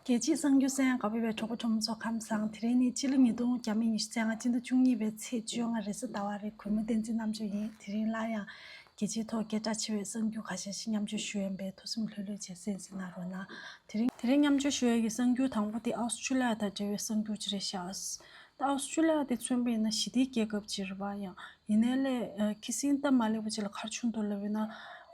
རྒྱལ་སྤྱིའི་གསང་རྒྱུད་གསན་དབང་བོད་པའི་གྲོགས་པོ་གྲོགས་མོ་ཚོ་ཁམས་བཟང་དེ་རིང་ནི་སྤྱི་ལོ་ཉིས་སྟོང་གྱ་མི་ཉི་ཤུ་ཚན་ང་སྤྱི་ཟླ་བཅུ་གཉིས་པའི་ཚེས་བཅོ་ལྔ་རེས་གཟའ་ཟླ་བ་རེ་གུས་མོ་བསྟན་འཛིན་རྣམ་དཔྱོད་ཡིན་དེ་རིང་སླར་ཡང་རྒྱལ་སྤྱིའི་ཐོག་སྐད་གྲགས་ཆེ་བའི་གསང་རྒྱུད་ཁ་ཤས་ཤིག་མཉམ་སྤྱོད་ཞུ་ཡོན་པས་ཐུགས་སེམས་ལྷོད་ལྷོད་བྱེད་སེམས་སེམས་ན་རོ་ན། དེ་རིང་མཉམ་སྤྱོད་ཞུ་ཡ་ཡི་གསང་རྒྱུད་དང་པོ་དེ་ཨའོ་སི་ཁྲུ་ལི་ཡ་དང་འབྲེལ་བའི་གསང་རྒྱུད་ཅི་རེད་ཤགས། ཨའོ་སི་ཁྲུ་ལི་ཡ་དེ་མཚོན་པའི་ན་ཞི་བདེའི་རྒྱལ་ཁབ་ཅིག་རེད་པ་ཡང་ཡིན་ནའི་ལས། ཁི་སིན་སྟབས་མ་ལེགས་པ་ཅིག་ལ་ཁར་ཆུང་དུ་སླེབས་ཡོད་ན།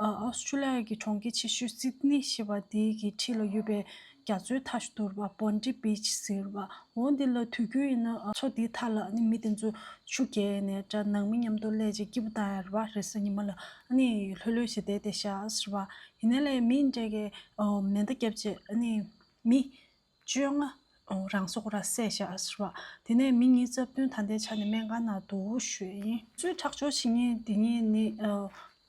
ཨའོ་སི་ཁྲུ་ལི་ཡ་གི་གྲོང་ཁྱེར་ཆེ་ཤོས་སིད་ནི་ཞེས་པ་དེའི་གི་འཁྲིས་ལ་ཡོད་པའི་རྒྱ་མཚོའི་མཐའ་སྡུར་བ Bondi Beach ཟེར་བ་འོ་འདི་ལ་དུས་རྒྱུན་ཡིན་ན་ཨ། མཚོ་དེའི་མཐའ་ལ་ནི་མི་དེ་ཚོ་ཆུ་བརྒལ་ནས་དྲ་ནང་མི་མཉམ་དུ་སླེབས་རྗེས་སྐྱིད་པོ་དང་ཡར་བ་རེ་ས་ཉི་མ་ལ་ནི་ལྷོད་ལྷོད་བྱེད་བསྡད་དེ་ཤཱ་ཨཱ་ཟེར་བ། ཡིན་ནའི་ལས། མི་འདྲ་གི་མེ་མདའ་བརྒྱབ་རྗེས་ནི་མི། བཅོ་ལྔ། རང་སྲོག་ར་བསད་བཞག་ཟེར་བ། དེ་ནས་མི་གཉིས་རྩ་བདུན་ད་ལྟའི་ཆ་ནས་སྨན་ཁང་ནང་དུ་བཞུགས་ཡིན། གཙོས་ཁྲག་སྦྱོར་བྱེད་ངེས་དེ་གཉིས་ནི།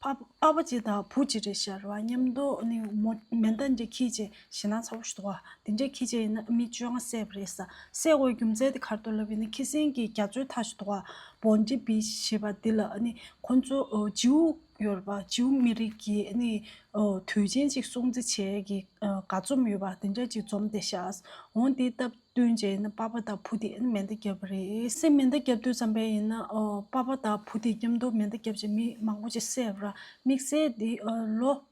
ཕ་བ་གཅིག་དང་བུ་གཅིག་རེད་ཤར་བ་ཉམས་རྟོགས་ནི་མོ་མེ་མདའ་འདྲེ་ཁྱི་བྱེད་ཞེ་ན་ཚ་བོ་ཞོག་ཨ་དེ་འདྲེ་ཁྱི་བྱེད་ཡིན་ན་མི་བཅོ་ལྔ་བསད་པ་རེད་ས་བསད་དགོས་རྒྱུ་མཚན་དེ་གར་དུ་ལབ་ཡིན་ན་ཁྱི་སེང་གི་རྒྱ་མཚོའི་མཐའ་ཞོག་ཨ་བོ་འདྲེ་བི་ཞེས་པ་འདི་ལ་ནི་ཁོ་ཚོ་རྗེའུ་ཡོད་པ་ཇིའུ་མི་རིགས་ཀྱི་དུས་ཆེན་གཅིག་སྲུང་གཙི་བྱས་ཀྱི་དགའ་རྩོམ་ཡོད་པ་དེ་འདྲ་གཅིག་རྩོམ་ཏེ་ཤཱས་འོང་དེའི་སྟབས་བསྟུན་བྱས་ན་པཱ་པཱ་དང་བྷུ་ཏི་མེ་མདའ་བརྒྱབ་པ་རེད། སེམས་མེ་མདའ་བརྒྱབ་དུས་ཙམ་པས་ཡིན་ན་པཱ་པཱ་དང་བྷུ་ཏི་མཉམ་དུ་མེ་མདའ་བརྒྱབ་ཅིང་མི་མང་པོ་ཅིག་བསད་པ་ར་དམིགས་བསལ་འདི་ལོ་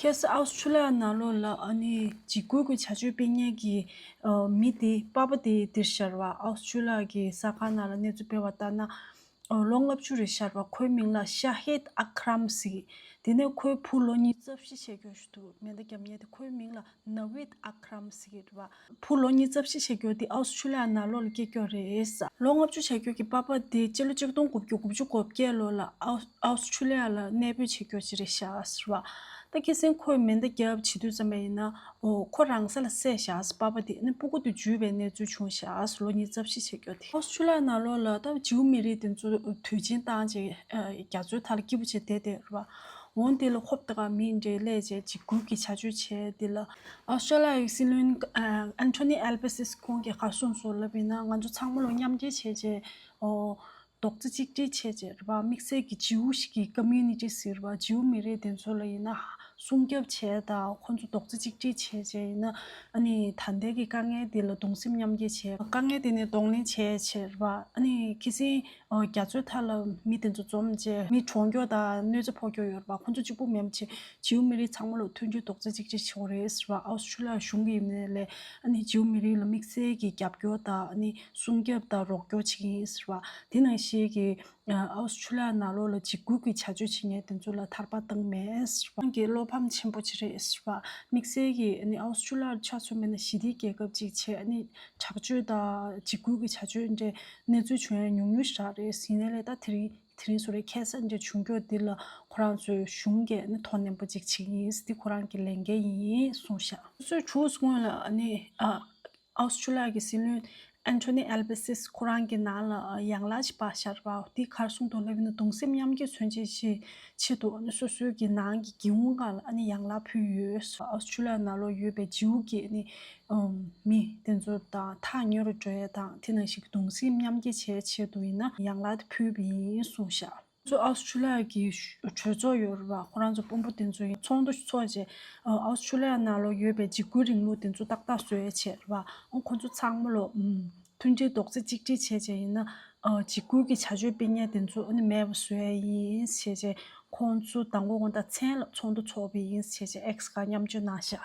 ཁྱེད་སུ་ཨའོ་ཆུ་ལག་ནག་ལོ་ལ་ཨ་ནི་འཇིགས་སྐུལ་གྱི་བྱ་སྤྱོད་སྤེལ་མཁན་གྱི་མི་དེ་དཔའ་བོ་དེ་འདིར་ཤར་བ་ཨའོ་ཆུ་ལག་གི་ས་ཁང་ནང་ལ་གནས་ཚུལ་སྤེལ་བ་ལྟར་ན། ལོ་ལྔ་བཅུ་རེ་ཤར་བ་ཁོའི་མིང་ལ་ཤ་ཧེད་ཨ་ཁ་རམ་ཟིག་དེ་ནས་ཁོའི་བུ་ལོ་གཉིས་རྩ་བཞི་ཆད་སྐྱོན་ཞུ་འདུག་མེ་མདའ་རྒྱབ་ཉལ་དེ་ཁོའི་མིང་ལ་ན་བིད་ཨ་ཁ་རམ་ཟིག་རེད་བ། ཕུ་ལོ་གཉིས་རྩ་བཞི་བྱེད་རྒྱུ་དེ་ཨའོ་སི་ཁྲུ་ལི་ཡ་ནང་ལོ་ལ་སྐྱེལ་རྒྱུ་རེད། ལོ་ལྔ་བཅུ་བྱ་རྒྱུ་གི་པཱ་པཱ་དེ་སྤྱི་ལོ་གཅིག་སྟོང་དགུ་བརྒྱུ་དགུ་བཅུ་གོ་བརྒྱད་ལོ་ལ་ཨའོ་སི་ཁྲུ་ལི་ཡ་ལ་གནས་སྤོས་བྱེད་རྒྱུ་ཅི་རེད་བཞག་བ། ད་ཁེ་སིན་ཁོས་མེ་མདའ་རྒྱབ་བྱེད་དུས་ཙམ་པ་ཡིན་ན་འོ་ཁོ་རང་ས་ལ་བསད་བཞག་པཱ་པཱ་དེ་ནི་སྤུ་གུ་དུ་འཇུས་པའི་གནས་ཚུལ་བྱུང་བཞག་ལོ་གཉིས་རྩ་བཞི་བྱེད་རྒྱུ་དེ། ཨའོ་སི་ཁྲུ་ལི་ཡ་ནང་ལོ་ལ་ད་བྱིའུ་མི་རིགས་དེ་ཚོ་དུས་ཆེན་བཏང་རྗེས་རྒྱ་མཚོའི་མཐའ་ལ་སྐྱིད་པོ་བྱེད་བསྡད་དེ་རེད་བ། འོང་དེ་ལ་ཧོབ་ཏི་ཀ་མིས་འབྲེལ་ལས་བྱས་འཇིགས་སྐུལ་གྱི་བྱ་སྤྱོད་བྱས་དེ་ལ། ཨོ་སི་ཀྲ་ལི་ཡ་ཡི་སྲིད་བློན་ཨན་ཐོ་ནི་ཨེལ་པི་སི་སི་ཁོང་གིས་གར་སོང་ཚུལ་ལབ་ཡིན་ན་ང་ཚོ་ཚང་མ་ལོ་མཉམ་རྒྱལ་བྱས་རྗེས་རྡོག་རྩ་གཅིག་སྒྲིལ་བྱས་རྗེས་རེད་པ་དམིགས་བསལ་གྱི་ཇིའུ་ཞིག་གི Community ཟེར་བ་ཇིའུ་མི་རིགས་དེ་ཚོ་ལ་ཡིན་ན་སྲུང་སྐྱོབ་བྱས་དང་ཁོང་ཚོ་རྡོག་རྩ་གཅིག་སྒྲིལ་བྱས་རྗེས་ཡིན་ན་ཨ་ནི་ད་ལྟའི་གི་དཀའ་ངལ་འདི་ལ་གདུང་སེམས་མཉམ་སྐྱེ་བྱས་དཀའ་ངལ་དེ་ནས་གདོང་ལེན་བྱས་རྗེས་རེད་པ་ཨ་ནི་ཁི་སིན། རྒྱ་མཚོའི་མཐའ་ལ་མི་དེ་ཚོ་འཛོམས་རྗེས་མི་གྲོངས་སྐྱོང་དང་གནོད་འཚེ་ཕོག་སྐྱོང་ཡོད་རེད་པ་ཁོ་ཚོ་གཅིག་པུ་མིན་པ་ཆེ་ཇིའུ་མི་རིགས་ཚང་མ་ལ་མཐུན་སྒྲིལ་རྡོག་རྩ་གཅིག་བྱེད་ཆེ་བ་རེད་ཟེར་བ་ཨའོ་སི་ཁྲུ་ལི་ཡ་གཞུང་གིས་ཡིན་པ་ལས་ཇིའུ་མི་རིགས་ལ་དམིགས་བསལ་གྱི་རྒྱབ་སྐྱོར་དང་སྲུང་སྐྱབས་དང་རོགས་སྐྱོར་བྱེད་ཀྱི་ཡིན་ཟེར་བ་དེ་ནང་བཞིན་གྱི་ཨའོ་སི་ཁྲུ་ལི་ཡ་ནང་ལོགས་ལ་འཇིགས་སྐུལ་གྱི་བྱ་སྤྱོད་བྱེད་མཁན་དེ་ཚོ་ལ་ཐར་པ་བཏང་མེད་ཟེར་བ། ཁོང་གིས་བློ་ཕམ་ཆེན་པོ་བྱེད་རེད་ཟེར་བ། དམིགས་བསལ་གྱི་ཨའོ་སི་ཁྲུ་ལི་ཡར་ཆ་མཚོན་མེད་ན་ཞི་བདེའི་རྒྱལ་ཁབ་ཅིག་བྱེད་དྲག་སྤྱོད་དང་འཇིགས་སྐུལ་གྱི་བྱ་སྤྱོད་འདྲེ་གནས་ཚུལ་བྱུང་ཡ་ཉུང་ཉུང་ཞིག་རག་རེད་ཟིན་ཡ་རེད་ད་དེ་རིང་དེ་རིང་སུ་རེད་ཁྱད་གསད་འདྲ་བྱུང་ཁྱོད་འདི་ལ་ཁོ་རང་ཚོས་གཞུང་གས་ནི་དོ་ནན་པོ་ཅིག་བྱེད་ཀྱི་ཡིན་འདི་ཁོ་རང་གི་ལས་འགན་ཡིན་གསུངས་ཤག། སུས་ཁྱོད་སྔོན་ལ་ནི Australia གི་སྲིད་བློན Anthony Albasis ཁོ་རང་གི་ནང་ལ་ཡང་ལ་ཞིག་པ་ཞག་རེད་པ་དེ་ཁར་གསུངས་འདུག་ལ་བི་ན་གདུང་སེམས་མཉམ་སྐྱེད་མཚོན་བྱེད་ཅིག་ཆེད་དུ་ནི་སོ་སོའི་གི་ནང་གི་སྒེའུ་འང་ལ་ནི་ཡང་ལ་ཕུལ་ཡོད། Australia ནང་ལོ་ཡོད་པའི་ཇིའུ་གས་ནི་མི། དེ་ཚོ་དང་ཐག་ཉེ་རུ་འགྲོ་ཡས་དང་དེ་ན་ཞིག་གདུང་སེམས་མཉམ་སྐྱེ་བྱའི་ཆེད་དུ་ཡིན་ན་ཡང་ལ་དེ་ཕུལ་བས་ཡིན་གསུངས་ཤག། ཚོ་ཨའོ་ཆུ་ལག་གི་གྲོས་ཚོགས་ཡོད་རུ་བ་ཁོ་རང་ཚོ་དཔོན་པོ་དེ་ཚོ་ཡིན་ཚོགས་འདུ་ཚོགས་རྗེས་ཨའོ་ཆུ་ལག་ན་ལོ་ཡོད་པའི་འཇིགས་སྐུལ་རིང་ལུགས་དེ་ཚོ་ཏག་ཏག་བཟོས་ཡས་བྱས་རུ་བ་ཁོ་ཚོ་ཚང་མ་ལོ། མཐུན་སྒྲིལ་རྡོག་རྩེ་གཅིག་སྒྲིལ་བྱས་རྗེས་ཡིན་ན་འཇིགས་སྐུལ་གྱི་བྱ་སྤྱོད་སྤེལ་ཉེས་དེ་ཚོ་ནི་མེད་པ་བཟོས་ཡས་ཡིན་བྱས་རྗེས་ཁོ་ཚོ་དང་གོ་དང་མཚན་ལ་ཚོགས་འདུ་ཚོགས་བས་ཡིན་བྱས་རྗེས་ཨེག་སི་ཀ་མཉམ་སྤྱོད་གནང་ཤག།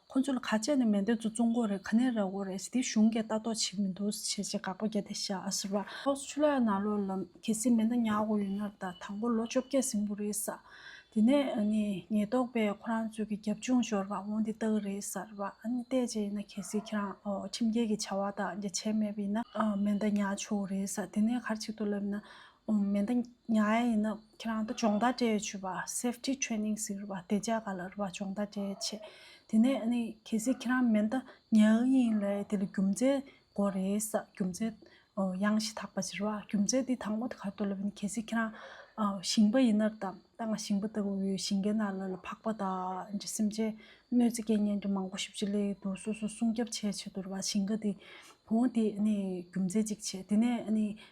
ཁོ་ཚོ་ལ་ཁ་ཆད་ནི་མེད་འདོད་ཚོ་ཙུང་གོ་རེད་ག་ནས་ར་གོ་རེད་དེ་གཞུང་གིས་ལྟ་རྟོག་བྱེད་མི་འདུག་ཟེར་བྱས་བྱས་དགག་པ་བརྒྱ་དེ་ཤ་ཨ་ཟེར་བ། ཕྱོགས་སུ་ཆུ་ལ་ཡང་ནག་ལོ་ལ་གལ་སྲིད་མེ་མདའ་ཉག་གོ་ཡོད་ན་ད་དང་པོ་ལོ་བཅོ་བརྒྱད་ཟིང་པོ་རེད་ས། དེ་ནས་ནི་ཉེས་རྟོག་པས་ཁོ་རང་ཚོས་ཀྱི་རྒྱབ་ལྗོངས་ཤོར་བ་འོང་དེ་ལྟ་གི་རེད་ཟེར་བ། ཨ་ནི་བལྟས་བྱས་ཡིན་ན་གལ་སྲིད་ཁྱེད་རང་ཁྲིམས་འགལ་གྱི་བྱ་བ་དང་རྒྱ་ཆལ་མེད་པ་ཡིན་ན་མེ་མདའ་ཉག་ཆོག་གི་རེད་ས་དེ་ནས་གར་ཆིག་ཏུ་ལབ་ན་མེ་མདའ་ཉག་ཡ་ཡིན་ན་ཁྱེད་རང་ད་སྦྱོང་བརྡར་སྤྲད་ཡོད་ཆུས་པ Safety Training ཟེར་བ་དེ་ཅག་ག་ལ་རུ་བ་སྦྱོང་བརྡར་སྤྲད་ཡོད་ཆེ། དེ་ནས་ཨ་ནི་གལ་སྲིད་ཁྱེད་རང་མེ་མདའ་ཉག་ཡ་ཡིན་ལ་དེ་ལ་རྒྱུ་མཚན་གོ་རེ་ས་རྒྱུ་མཚན་གཡང་གཞི་དག་པ་ཟེར་བ་རྒྱུ་མཚན་དེ་དང་པོ་དེ་ག་ཏོ་ལབ་ཡིན་གལ་སྲིད་ཁྱེད་རང་ཞིང་པ་ཡིན་ནར་དང་ད་ང་ཞིང་པ་ལྟ་བུ་བོའི་ཞིང་ཁའི་ནང་ལ་ལ་འཕགས་པ་དག་ཨིན་ཅེ་སེམས་ཅན་གནོད་འཚེ་སྐལ་ངན་གྱི་མང་པོ་ཞིབ་ཅེ་ལས་ཡོད་དོ་སོ་སོ་སྲུང་སྐྱབས་བྱས་ཆེད་དུ་རུ་བ་ཞིང་ཁ་དེ་བོང་དེ་ཨ་ནི་རྒྱུ་མཚན་གཅིག་བྱས་དེ་ནས་ཨ་ནི་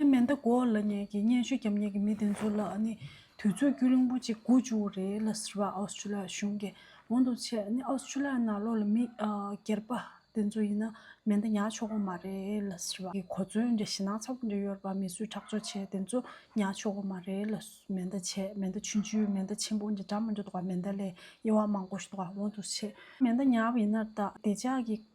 ཨེ་མེ་མདའ་གོ་ལ་ཉལ་གྱི་སྙན་ཞུ་རྒྱབ་ཉལ་གྱི་མི་དེ་ཚོ་ལ་ནི་དུས་ཚོད་རྒྱུས་ལོན་པོ་ཅིག་དགོས་བཅུག་གི་རེད་ལ་ཟེར་བ་ཨའོ་སི་ཏྲུ་ལི་ཡ་གཞུང་གི་གོང་དུ་ཆད་ནི་ཨའོ་སི་ཏྲུ་ལི་ཡ་ནང་ལོག་ལ་མི་སྒེར་པ་དེ་ཚོ་ཡིན་ན་མེ་མདའ་ཉལ་ཆོག་གོ་མ་རེད་ལ་ཟེར་བ་གོ་མཚོན་འདྲ་ཞེ་སྣང་ཚ་བོ་འདྲ་ཡོད་པ་མི་གསོད་ཁྲག་སྦྱོར་བྱེད་དེ་ཚོ་ཉལ་ཆོག་གོ་མ་རེད་ལ་མེ་མདའ་ཆད་མེ་མདའ་ཆུན་ཆུན་མེ་མདའ་ཆེན་པོ་འདྲ་འདྲ་མ་འདྲ་འདུག་ག་མེ་མདའ་ལས་དབྱེ་བ་མང་པོ་ཞིག་འདུག་ག་གོང་དུ་ཆད། མེ་མདའ་ཉལ་བ་ཡིན་ན་བདེ་ལྕག་གི་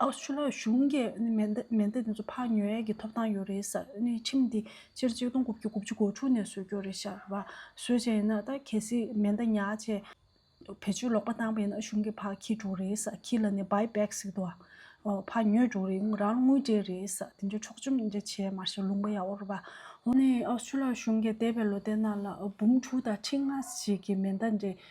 ཨུ་ཆུ་ལགས་གཞུང་གི་མེ་མདའ་དེ་ཚོ་ཕག་ཉོ་ཡས་ཀྱི་ཐོབ་ཐང་ཡོད་རེད་ཟེར་ནས་ཁྲིམས་དེ་སྤྱིར་གཅིག་སྟོང་དགུ་བཅུ་དགུ་བཅུ་གོ་དྲུག་ནས་བཟོས་རྒྱུ་རེད་ཤག་བ་བཟོས་བྱས་ཡིན་ན་ད་གལ་སྲིད་མེ་མདའ་ཉག་ཅེས་བེད་སྤྱོད་ལོག་པ་བཏང་པ་ཡིན་ན་གཞུང་གི་ཕག་ཁྱི་དྲུག་རེད་ཟེར་ཁྱི་ལ་ནི་བའི་བེག་ཟིག་དུ་ཨ་ཕག་ཉོས་དྲུག་རེད་ངོས་རང་དངུལ་སྤྲད་རེད་ཟེར་དེ་འདྲའི་འཕྲོག་བཅོམ་དེ་འདྲ་བྱས་མ་ཤེས་ལུང་པ་ཡ་བོར་བ་འོ་ནི་ཨུ་ཆུ་ལགས་གཞུང་གི་འདས་པའི་ལོ་དེ་ནང་ལ་འབུམ་དྲུག་དང་ཁྲི་ལྔ་ཞིག་གི་མེ་མདའ་འདྲེ་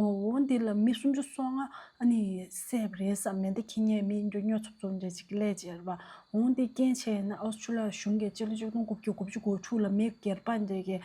ཨོ་ཨོ་འདི་ལ་མི་སུམ་ཅུ་སོ་ལྔ་ཨ་ནི་སེབ་རེད་བསམ་མེད་འདི་ཁྱི་ངན་མི་འགྱོ་སྨྱོ་ཚུབ་ཚུབ་འདྲེ་ཅིག་གི་ལས་བྱེད་རེད་པ་འོང་འདི་རྐྱེན་བྱས་ཡིན་ན་ཨོ་སྤྱི་ལ་གཞུང་གི་སྤྱི་ལོ་ཆིག་སྟོང་དགུ་བརྒྱུ་དགུ་བཅུ་གོ་དྲུག་ལ་མི་སྒེར་པ་འདྲེ་གི་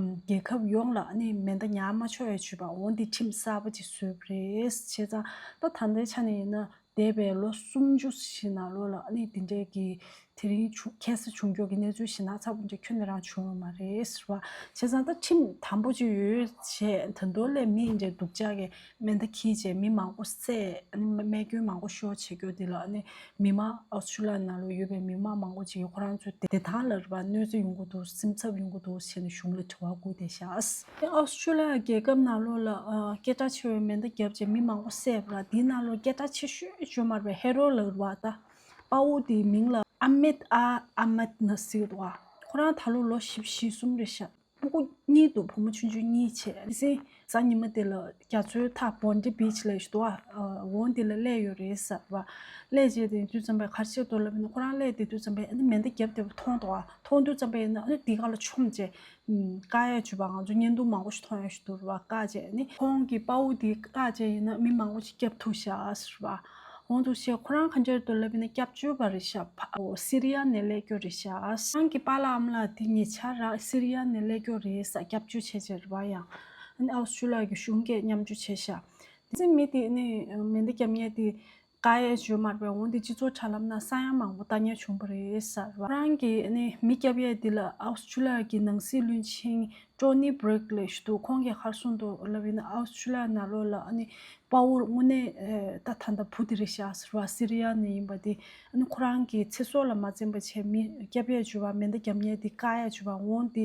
རྒྱལ་ཁབ་ཡོངས་ལ་ཨ་ནི་མེ་མདའ་ཉག་མ་ཆོད་ཡ་ཆུད་པ་འོང་འདི་ཁྲིམས་གསར་པ་ཅིག་བཟོས་པ་རེད་བྱས་ཙང་ད་ད་ལྟའི་ཆ་ནས་ཡིན་ན་འདས་པའི་ལོ་སུམ་ཅུ་ཞིག་ནང་བློ་ལ་ཨ་ནི་འདི་འདྲས་ཀྱི། དེ་རིང་བྱུང་ཁྱད་བསད་བྱུང་མགྱོགས་ཀྱི་གནས་ཚུལ་ཞིག་ན་ཚ་བོ་འདྲས་ཁྱོད་ནི་རང་བྱུང་བ་མ་རེད་ཟེར་བ། བྱས་ཙང་ད་ཁྲིམས་དམ་པོ་ཅིག་ཡོད་བྱས་ད་མདོ་ལས་མི་འདྲས་སྡུག་ཅག་གི་མེ་མདའ་འཁྱིལ་བྱས་མི་མང་པོ་བསད་ཨ་ནི་རྨས་སྐྱོན་མང་པོ་ཤོར་བྱས་མགྱོགས་འདི་ལ་ཨ་ནི་མི་མང་ཨོས་ཆུ་ལ་ན་ལོ་ཡོད་པའི་མི་མང་མང་པོ་ཅིག་གིས་ཁོ་རང་ཚོའི་བདེ་ཐང་ལ་རེ་བ་གནོད་འཚེ་ཡོང་གི་འདུག་སེམས་འཚབ་ཡོང་གི་འདུག་བྱས་ནས་གཞུང་ལ་དྲི་བ་བསྐུར་ཏེ་བཞག། ཨཱ་ཨཱོ་སྤྱི་ལ་རྒྱལ་ཁབ་ནག་ལོ་ལ་སྐད་གྲགས་ཆེ་བའི་མེ་མདའ་བརྒྱབ་རྗེས་མི་མང་པོ་བསད་པ་ལ་དེའི་ནག་ལོར་སྐད་གྲགས་ཆེ་ཤོས་བཅོས་མར་བའི་ཧེ་རོ་ལ་བ་ད་དཔའ་བོ་དེའི་མིང་ལ་ཨ་མེད་ཨ་ཨཱ་མེད་ནཱ་ཟེར་བ། ཁོ་རང་ད་ལོ་ལོ་བཞི་བཞི་གསུམ་རེད་ཤག་སྤུ་གུ་གཉིས་འདུག་བུ་མོ་ཆུང་ཆུང་གཉིས་བྱས་དེ་སྲིད་གཟའ་ཉི་མ་དེ་ལ་རྒྱ་མཚོའི་མཐའ Bondi Beach ལས་ཞུ་དོག་འོང་དེ་ལ་གླས་ཡོད་རེད་ཟེར་བ། གླས་བྱས་དེ་དུས་ཙམ་པའི་ཁར་ཕྱིར་དོར་ལབ་ནས་ཁོ་རང་གླས་དེ་དུས་ཙམ་པའི་མེ་མདའ་བརྒྱབ་དེ་བ་མཐོང་དོག་མཐོང་དུས་ཙམ་པའི་ཨ་ནུ་དེ་ག་ལ་ཆོམ་བྱས་བཀའ་ཡས་བྱུས་པ་ང་ཚོ་བརྙན་ཐུང་མང་པོ་ཞིག་མཐོང་ཡོད་ཞེས་བསྡུར་བ་བཀའ་བརྒྱད་ནི། ཁོང་གིས་དཔའ་བོ་དེའི་བཀའ་བརྒྱད་ཡིན་ན་མི་མང་པོ་ཞིག་སྐྱབས་ཐུགས་བཞག་ཟེར་བ། གོང་དུ་བཤད་ཁོ་རང་གང་ཅར་དུ་ལབ་ཡིན་ན་སྐྱབས་བཅོལ་བ་རེད་བཞག་ཕ་སི་རི་ཡ་ནས་ལས་སྐྱོར་རེད་བཞག་ཁོང་གི་པ་ལགས་འམ་ལགས་དེ་ཉེ་ཆར་ར་སི་རི་ཡ་ནས་ལས་སྐྱོར་རེད་བསགས་སྐྱབས་བཅོལ་བྱས་བྱས་རེད་བ་ཡང་ཨའོ་སི་ཆུ་ལ་གི་གཞུང་སྐད་མཉམ་བཅོས་བྱས་བཞག་དེ་ཚེ་མི་དེ་ནི་མེ་མདའ་རྒྱབ་ཉལ་དེ་ཀ་ཡའི་བཅོས་མར་བས་འོང་སྟེ་སྤྱི་ཚོགས་དྲ་ལམ་ན་ས་ཡ་མང་པོ་བལྟ་ཉེར་བྱུང་བ་རེད། ཁོ་རང་གིས་ནི་མི་སྐྱབས་ཡས་འདི་ལ་ཨའོ་སི་ཁྲུ་ལི་ཡ་གི་ནང་སྲིད་བློན་ཆེན་ཀྲོ་ནི་བྷྲིག་ལེ་ཞུ་དུ་ཁོང་གི་ཧར་སོང་དུ་ལ་བྷི་ན་ཨའོ་སི་ཁྲུ་ལི་ཡ་ནཱ་ལོ་ལ་ཨ་ནི་དཔའ་བོར་དངོས་གནས་ད་ད་ད་བུ་དི་རི་ཤ་ཟེར་བ་སི་རི་ཡ་ནས་ཡིན་པ་དེ་ཨ་ནི་ཁོ་རང་གི་ཚེ་སྲོག་ལ་མ་འཛེམ་པ་བྱས་མི་སྐྱབས་ཡས་བཅོས་མར་མེ་མདའ་བརྒྱབ་ཉེར་འདི་ཀ་ཡའི་བཅོས་མར་འོང་སྟེ་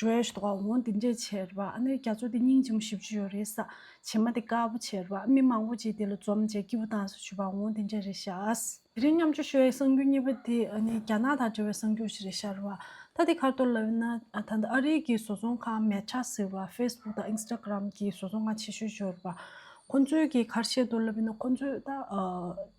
གྲོས་ཞུ་དགོས་འོང་དེ་འདྲས་བྱེད་རེད་པ་ཨ་ནེ་རྒྱ་མཚོ་དེ་སྙིང་རྗེ་མོ་ཞིབ་ཅིག་ཡོད་རེད་ས་བྱེད་མ་དེ་དཀར་པོ་བྱེད་རེད་པ་མི་མང་པོ་གཅིག་དེ་ལ་འཛོམ་བྱས་སྐྱིད་པོ་དང་ས་བྱུས་པ་འོང་དེ་འདྲས་རེད་ཤག། དེ་རིང་མཉམ་ཆུ་ཤོད་ཡའི་གསང་རྒྱུ་གཉིས་པ་དེ་ཨ་ནེ་རྒྱ་ནག་དང་འབྲེལ་བའི་གསང་རྒྱུ་ཞིག་རེད་ཤག་རེད་བ་ད་དེ་ཁར་གཏོར་ལབ་ཡོད་ན་ད་ལྟ་ཨ་རིའི་གི་བཟོ་ཚོང་ཁང་མལ་ཁྲ་ཟེར་བ facebook དང instagram གི་བཟོ་ཚོང་ཁང་ཆེ་ཤོས་ཤོས་རེད་བ་ཁོང་ཚོའི་གི་ཁར་བཤད་གཏོར་ལབ་ཡོད་ན་ཁོང་ཚོས་ད།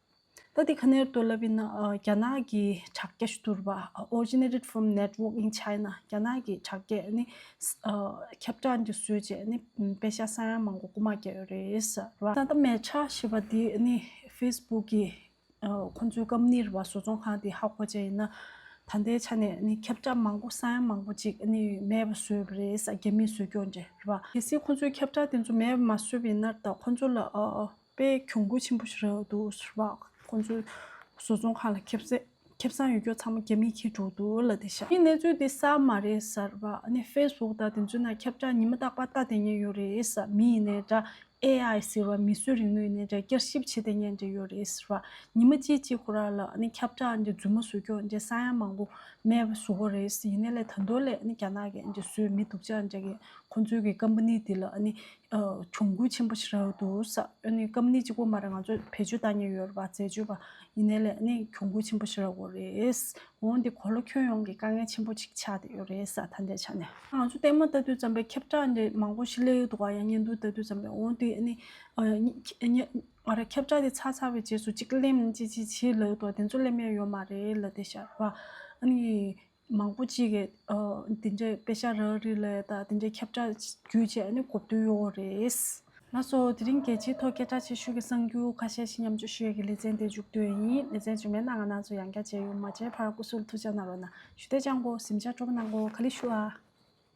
ད་དེ་ག་ནེར་དོ་ལབ་ཡིན་ན་རྒྱ་ནག་གི་དྲ་རྒྱ་ཞུ་དུར་བ Originated from Network in China རྒྱ་ནག་གི་དྲ་རྒྱས་ནི་ཁྱབ་བསྒྲགས་འདི་བཟོས་རྗེས་ནི་དཔེ་ཆ་ས་ཡ་མང་པོ་རྐུ་མ་བརྒྱབ་ཡོད་རེད། ད་ལྟ་མེ་ཆ་ཞེས་པ་འདི་ནི Facebook གི་ཁོང་ཚོའི་སྐམ་ནིར་བ་བཟོ་ཚོང་ཁང་དེ་ཧ་གོ་བྱས་ཡིན་ན་ད་ལྟའི་ཆ་ནས་ནི་ཁྱབ་བསྒྲགས་མང་པོ་ས་ཡ་མང་པོ་ཅིག་ནི་མེད་པ་བཟོས་ཡོད་པ་རེད་རྒྱ་མིས་བཟོས་རྒྱུ་འདྲ་རེད། གལ་སྲིད་ཁོང་ཚོའི་ཁྱབ་བསྒྲགས་དེ་ཚོ་མེད་པ་མ་བཟོས་པ་ཡིན་ན་ད་ཁོང་ཚོ་ལ་པའི་གྱོང་གུད་ཆེན་པོ་ཞིག་རག་འདུག་ཟུར་པ་ཁོང་ཚོའི་བཟོ་ཚོང་ཁང་ལ་ཁེབས་ཚེ་ཁེབས་ཚང་ཡོད་སྐྱོར་ཚང་མ་རྒྱ་མིས་ཁྱེར་འགྲོ་འདུག་ལ་དེ་ཤ་ཡི་གནས་ཚུལ་འདི་གསར་མ་རེད་ཟར་པ་ནི་དཔེ་ཟོག་དག་དེ་ཚོའི་ནང་ཁྱབ་ཆག་ཉི་མ་རྟག་པར་ལྟ་དེ་ཉན་ཡོད་རེད་ཟར་མི་ཡིན་ནའི་འདྲ AI ཟེར་བ་མི་སུས་རིག་ནུས་ནས་འདྲ་བསྐྱར་ཞིབ་བྱེད་དེ་ཉན་འདྲ་ཡོད་རེད་ཟར་བ་ཉི་མ་གཅིག་གཅིག་ཁོ་རང་ལ་ནི་ཁྱབ་ཆག་འདི་རྫུན་མ་བཟོ་སྐྱོར་འདི་ས་ཡང་མང་པོ་མེད་པ་བཟོ་བ་རེད་ཡིན་ནའི་ལས་ད་མདོ་ལས་ནི་རྒྱ་ནག་གི་འདི་བཟོས་མི་འདུག་ཅག་འདྲ་གི་ཁོང་ཚོའི་གི་ཀམ་པ་ནི་འདི་ལ་ནི་གྱོང་གུད་ཆེན་པོ་ཞིག་རག་འདུག་ས་ཨ་ནི་སྐབས་ནི་གཅིག་པོ་མ་རེད་ང་ཚོ་བེད་སྤྱོད་བཏང་ཉེན་ཡོད་རེད་པ་རྩད་གཅོད་པ་ཡིན་ནའི་ལས་ནི་གྱོང་གུད་ཆེན་པོ་ཞིག་རག་འོ་རེད། འོན་ཏེ་གོ་ལོ་ཁྱོན་ཡོངས་ཀྱི་དཀའ་ངལ་ཆེན་པོ་ཅིག་ཆགས་བསྡད་ཡོད་རེད་ས་ད་ལྟའི་ཆ་ནས། ང་ཚོ་ལྟད་མོ་ལྟ་དུས་ཙམ་པའི་ཁྱབ་བསྒྲགས་འདི་མང་པོ་ཞིག་གླེང་ཡོད་འདུག་ག་ཡང་བརྙན་ཐུང་ལྟ་དུས་ཙམ་པའི་འོན་ཏེ་ཨ་ནི། ཨ་ར་ཁྱབ་བསྒྲགས་འདི་ཚར་ཚར་བའི་རྗེས་སུ་གཅིག་གླེང་ཅིག་ཅིག་བྱེད་ལོས་འདུག་དེ་ཚོ་གླེང་མེད་ཡོད་མ་རེད་ལ་དེ་ཤར་བ་ཨ་ནི། མང་པོ་གཅིག་གིས་འདི་འདྲའི་དཔེ་ཆ་རག་རི་ལས་དང་འདི་འདྲའི་ཁྱབ་བསྒྲགས་བརྒྱུད་བྱས་ནས་གོ་བསྡུར་ཡོང་བ་རེད། ལགས་སོ། དེ་རིང་རྒྱལ་སྤྱིའི་ཐོག་སྐད་གྲགས་ཆེ་ཤོས་ཀྱི་གསང་རྒྱུད་ཁ་ཤས་ཤིག་མཉམ་སྤྱོད་ཞུ་ཡས་ཀྱི་ལེ་ཚན་དེ་མཇུག་བསྡུ་ཡས་ཡིན། ལེ་ཚན་རྗེས་མའི་གནང་ག་ནང་ཚོ་ཡང་བསྐྱར་མཇལ་ཡོང་མ་མཇལ་བར་སྐུ་གཟུགས་ལ་ཐུགས་བཅག་གནང་རོགས་གནང། ཞུ་བདེ་བཅང་གོ། གཟིམས་ཆ་སྤྲོ་པོ་གནང་གོ། ཁ་ལི་ཤུ་ཨ།